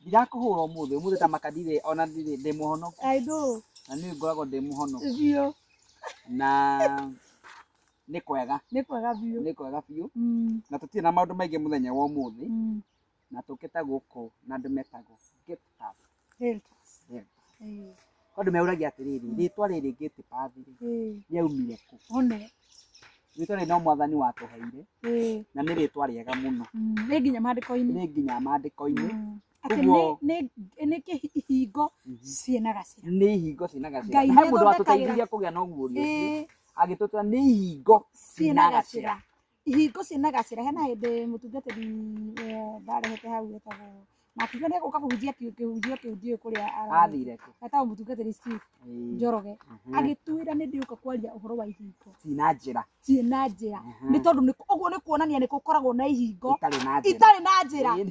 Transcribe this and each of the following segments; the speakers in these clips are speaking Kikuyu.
ndirakũhũra ũmũthĩ ũmũthĩ ta makadire ona ndirĩ ndĩ mũhonoku na nĩ ngoragwo ndĩ mũhonoku na nĩ kwega nĩ kwega biũ na tũtirĩ na maũndũ maingĩ mũthenya wa ũmũthĩ na tũkĩte gũkũ na andũ metagwo gate pass Deltas. Yeah. Eh, kwa andũ meũragia atĩrĩrĩ rĩtwa rĩrĩ gate pass rĩ eh, rĩaumire kũ one. rĩtwa rĩrĩ no mwathani watũheire Eh, na nĩ rĩtwa rĩega mũno mm, nĩ nginya maandĩko-inĩ. nĩ nginya mandĩko-inĩ Mm. Atĩ Ũguo- nĩ- nĩ- nĩ kĩhingo ciĩna gacĩra. nĩ ihingo ciĩna Ngai gacĩra he mũndũ nĩathondekagĩra- watũteithirie kũgĩa na ũguũrio ũcio Eh, agĩtũtũra nĩ ihingo ciĩna gacĩra. hingo ciĩ na gacĩra hena hĩndĩ mũtungatĩri eh, ndarehete hau etagwo na akiuga nĩ egũka kũhunjia ki- kĩhunjio kĩu ndiũĩ kũrĩa ara- athire kũ etagwo mũtungatĩri Steve Ĩĩ. Njoroge Mhm. agĩtwĩra nĩ ndĩũka kwaria ũhoro wa ihingo Ci na njĩra ciĩ na njĩra Mhm. nĩ tondũ nĩ- ũguo nĩ kuonania nĩ gũkoragwo na ihingo itarĩ na njĩra itarĩ na njĩra Ĩĩ.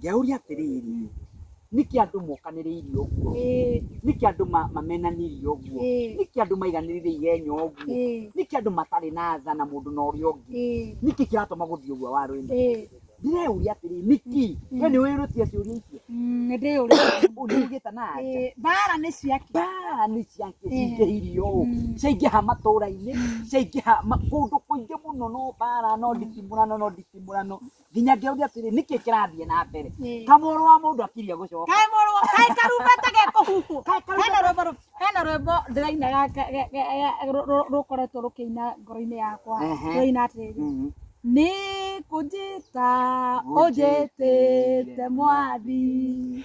Ngĩauria atĩrĩrĩ, nĩkĩ andũ mokanĩrĩirie ũguo? Ĩĩ, Nĩkĩ andũ ma- mamenanirie ũguo? Ĩĩ. Nĩkĩ andũ maiganĩrĩire igenya ũguo? ĩĩ, Nĩkĩ andũ matarĩ na tha na mũndũ na ũrĩa ũngĩ? ĩĩ, Nĩkĩ kĩratũma gũthiĩ ũguo warũinĩ? ĩĩ. Ndĩreũria atĩrĩ, nĩkĩ? We nĩ wĩrũtie ciũria icio? Mm, nĩ ndĩyũrĩte. Ũũ nĩ ugĩte na anja. Ĩĩ, Mbaara nĩ ciakĩ. Mbaara nĩ ciake cingĩhirio ũũ. Mm. Ciaingĩha matũũra-inĩ, ciaingĩha ma- kũndũ kũingĩ mũno no mbaara, no nditimũrano, no nditimũrano. nginya ngĩũria atĩrĩ nĩkĩ kĩrathiĩ na mbere Ĩĩ. kamũrũ wa mũndũ akiria gũcoka kaĩ mũrũ kaĩ karumbeta gekũhuhwo Kaĩ karumbeta- hena rwĩmbo rũ- hena rwĩmbo ndĩraina ga- ga- ga- ga- ga- rũ- rũ- rũkoretwo rũkĩina ngoro-inĩ yakwa Ehe. rũina atĩrĩ Mhm. nĩ kũnjĩta ũnjĩtĩte mwathi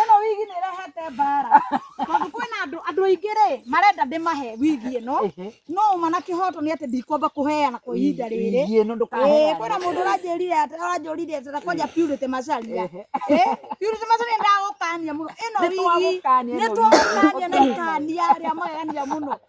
ĩno wigi nĩ ĩrehete mbara tondũ kwĩna andũ andũ aingĩ rĩ marenda ndĩmahe wigi ĩno Ehe. no ũma na kĩhoto nĩ atĩ ndikwamba kũheana kwa ihinda rĩrĩ Igi ĩno Ĩĩ, ndũkaheane. kwĩna mũndũ ũranjĩrire atĩ- ũranjũrire atĩ na kwanja purity macaria Ehe. Ĩĩ, purity macaria ndagũkania mũno ĩno wigi Nĩtwagũkania ĩno nĩ wigi. twagũkania na ikania rĩa magegania mũno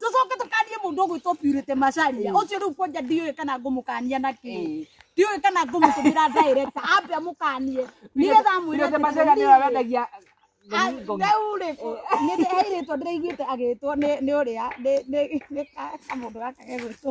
tucoke tukanie mundu gwitwo purite macaria ucio riu kwanja ndiũĩ kana ngũmũkania na kĩ ndiũĩ kana ngũmũtũmĩra direct ambe amũkanie nĩgetha amwĩre Nĩgetha macaria nĩyo wendagia Ng'ongo. rĩu rĩ nĩndĩrairĩtwo ndĩraiguĩte agĩtwo nĩ nĩ ũrĩa nĩ- nĩ- nĩ ka- kamũndũ gaka gegwĩtwo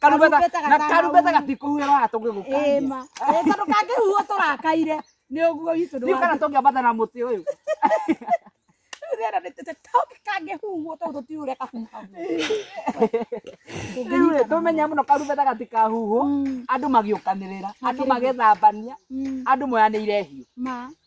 Karubeta Karubeta na gatana karubeta ũru. gatikuhuĩra waga tũngĩgũkangia ĩma ĩta ndũkangĩhuo tũrakaire nĩ ũguo witũ nĩ rĩu kana tũngĩambata na mũtĩ ũyũ ndĩrerĩte tũngĩkangĩhuo tondũ tũtiure kahuha rĩu rĩ, tũmenye mũno karubeta gatikahuhwo andũ magĩũkanĩrĩra andũ magethambania andũ moyanĩire hiũ ma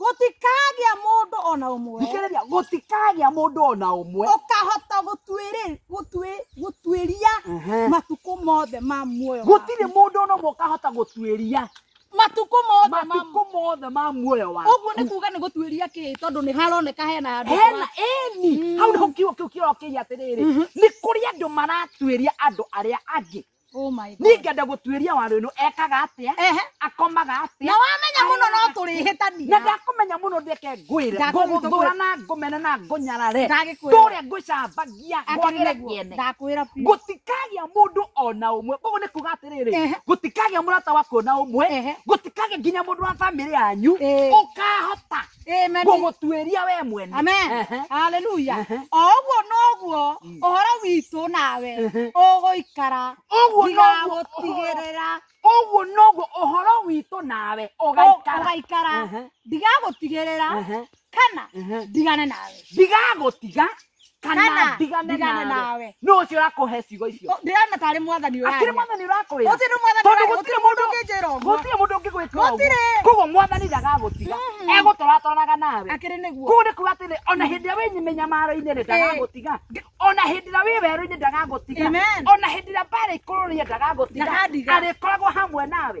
gũtikagĩa mũndũ ona ũmwe thikĩrĩria gũtikagĩa mũndũ ona ũmwe ũkahota gũtuĩrĩ- gũtuĩ- gũtuĩria Ehe. matukũ mothe ma muoyo waku. gũtirĩ mũndũ ona ũmwe ũkahota gũtuĩria matukũ mothe ma matukũ mothe ma muoyo waku ũguo nĩ kuga nĩ gũtuĩria kĩ tondũ nĩ haroneka hena handũ hena eni hau nĩho kiugo kĩu kĩrokĩria atĩrĩrĩ nĩ kũrĩ andũ maratuĩria andũ arĩa angĩ Oh my God. niĩ ngenda gũtuĩria warũ ĩno ekaga atĩa Ehe. akomaga atĩa na wamenya mũno no na tũrĩhĩtania ndakũmenya mũno ndeke ngwĩre Ndakũmenya ngũgũthũra na ngũmena na ngũnyarare Ndagĩkwĩra. tũrĩa ngũcambagia ngwagĩre kĩene ndakwĩra biũ gũtikagĩa mũndũ ona ũmwe koguo nĩ kuga atĩrĩrĩ Ehe. gũtikagĩa mũrata waku ona ũmwe Ehe. gũtikagĩa nginya mũndũ wa bamĩrĩ yanyu Ee. ũkahota Amen. ngũgũtuĩria we mwene Amen. Ehe. Hallelujah. Ehe. O ũguo noguo ũhoro witũ nawe Ehe. ũgũikara Ũguo noguo ndigagũtigĩrĩra ũguo noguo ũhoro witũ nawe ũ- ũgaikara ũgaikara Ehe. ndigagũtigĩrĩra Ehe. kana Ehe. ndigane nawe ndigagũtiga kana Kana ndigane ndigane nawe nawe. no ucio urakuhe ciugo icio O, ndĩrona tarĩ mwathani akiri ũraria mwathani urakwira gũtirĩ nĩ mwathani Tondũ ũraria gũtirĩ gũtirĩ mũndũ mũndũ- ũngĩnjĩra ũguo gutire mundu ungigwikira uguo Gũtirĩ. koguo mwathani ndagagutiga Mhm. egutũratwaraga nawe akĩrĩ nĩguo kuu nĩ kuga atĩrĩ ona hĩndĩ ĩrĩa wĩ mĩnyamaro-inĩ rĩ ndagagũtiga ona hĩndĩ ĩrĩa wĩ werũ-inĩ ndagagũtiga Amen. ona hĩndĩ ĩrĩa mbarĩ ikũrũ rĩe ndagagũtiga Ndakandiga. arĩkoragwo hamwe nawe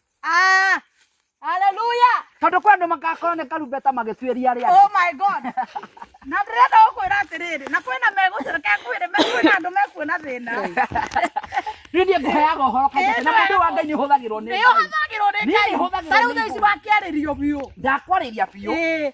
Ah, hallelujah. tondå kwä andå magakorwo nä karumbeta magä tuäria rä Oh my God. Na ndĩrenda gũkwĩra atĩrĩrĩ, na kwĩna megũcũrũka kwĩrĩ, me- kwĩna andå mekuona thĩna. rä niä ngå heaga å horo kaingä na mũndå wa ngai nä hå thagä rwo nä Nĩũhũthagĩrwo nĩ Niĩ Ngai. nĩhũthagĩrwo Ta rĩu nĩ thaa ici Ngai. wakĩarĩrio biũ. ndakwarä ria biå Ĩĩ.